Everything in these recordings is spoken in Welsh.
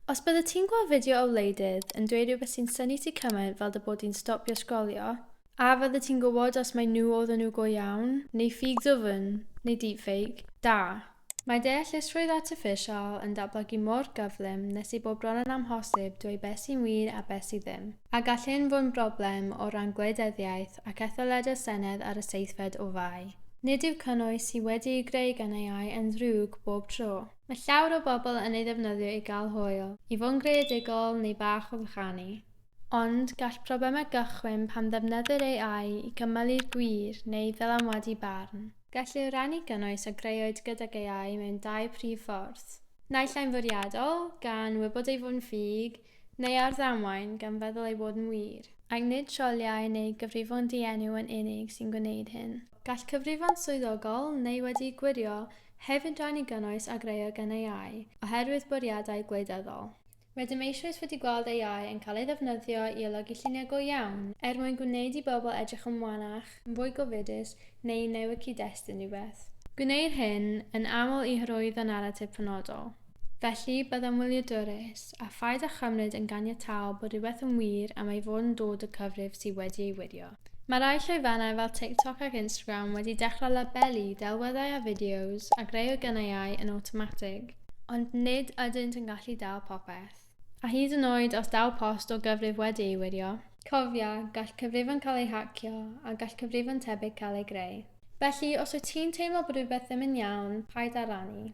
Os byddet ti'n gweld fideo o wleidydd yn dweud rhywbeth sy'n synnu ti cymaint fel dy bod di'n stopio sgrolio, a fyddet ti'n gwybod os mai nhw oedden nhw go iawn, neu ffug dwfn, neu deepfake? Da! Mae deallusrwydd artiffisial yn datblygu mor gyflym nes i bod bron yn amhosib dweud beth sy'n wir a beth sydd ddim, a gall hyn fod yn broblem o ran gwleidyddiaeth ac etholedig Senedd ar y seithfed o Fai. Nid yw cynnwys sydd wedi'i greu gan AI yn ddrwg bob tro. Mae llawer o bobl yn ei ddefnyddio i gael hwyl, i fod yn greadigol neu bach o fychanu. Ond gall problemau gychwyn pan ddefnyddir AI i gymylu'r gwir neu i ddylanwadu barn. Gallu rhannu gynnwys a greuwyd gydag AI mewn dau prif ffordd. Naill ai'n fwriadol, gan wybod ei fod yn ffug, Neu ar ddamwain, gan feddwl ei fod yn wir. Ac nid sioliau neu gyfrifon dienw yn unig sy'n gwneud hyn. Gall cyfrifon swyddogol, neu wedi'u gwirio, hefyd rannu gynnwys a grëwyd gan AI, oherwydd bwriadau gwleidyddol. Rydym eisoes wedi gweld AI yn cael ei ddefnyddio i olygu lluniau go iawn, er mwyn gwneud i bobl edrych yn wanach, yn fwy gofidus neu i newid cyd-destun rhywbeth. Gwneir hyn yn aml i hyrwyddo naratif penodol. Felly, byddem wyliadwrus, a phaid â chymryd yn ganiataol bod rhywbeth yn wir am ei fod yn dod o cyfrif sydd wedi ei wirio. Mae rhai llwyfannau fel TikTok ac Instagram wedi dechrau labelu delweddau a fideos a greu o gynnau ai yn awtomatig, ond nid ydynt yn gallu dal popeth. A hyd yn oed os daw post o gyfrif wedi ei wirio, cofia, gall cyfrifon cael eu hacio a gall cyfrifon tebyg cael eu greu. Felly, os wyt ti'n teimlo bod rhywbeth ddim yn iawn, paid â rannu.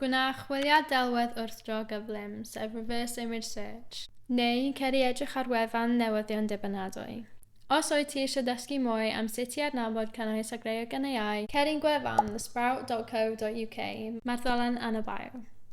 Gwna chwiliad delwedd wrthdro gyflym, sef reverse image search, neu cer i edrych ar wefan newyddion dibynadwy. Os wyt ti eisiau dysgu mwy am sut i adnabod cynnwys a greu o gan AI, cer i'n gwefan, thesprout.co.uk, mae'r ddolen yn y bio.